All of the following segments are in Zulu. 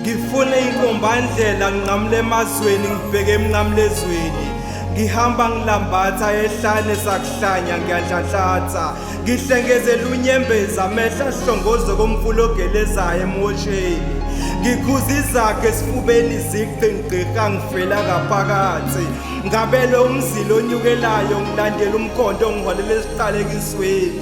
ngifune inkombandlela nginqamule emazweni ngibheke emnqamulezweni ngihamba ngilambatha ehlane sakuhlanya ngiyadlanhlatha ngihlengezela unyembeza amehla ahlongoze komfula ogelezayo emosheni ngikhuza izakhe esifubeni zigqingqiqa ngifela ngaphakathi ngabelwe umzila onyukelayo ngilandela umkhondo ongiholela esiqalekisweni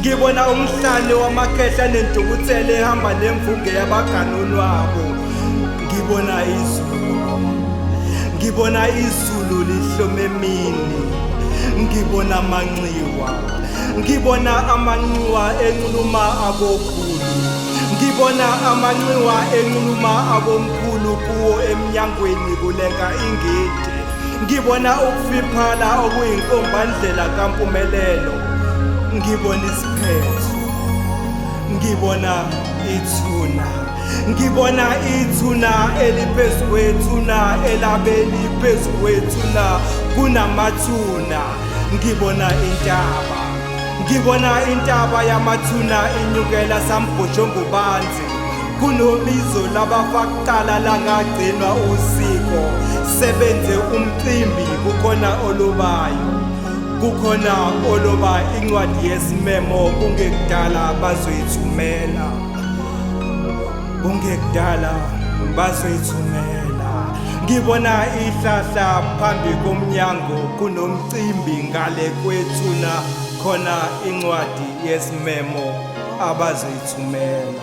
ngibona umhlane wamakhehla nentukuthelo ehamba nemvuke yabaganonwabo ngibona izulu ngibona izulu lihlome mini ngibona amanxiwa ngibona amanxiwa enxuluma abokhulu ngibona amanxiwa enxuluma abomkhulu kuwo emnyangweni kulenga ingidi ngibona ukufiphala okuyinkombandlela kampumelelo ngibona isiphetho ngibona ithuna ngibona ithuna eliphezu kwethuna elabe liphezu kwethuna kunamathuna ngibona intaba ngibona intaba yamathuna inyukela sambhojongobanzi kunobizo labafakqala langagcinwa usiko sebenze umcimbi kukhona olubayo kukhona oloba incwadi yesimemo kungekudala bazoyithumela kungekudala bazoyithumela ngibona ihlahla phambi komnyango kunomcimbi ngale kwethuna khona incwadi yesimemo abazoyithumela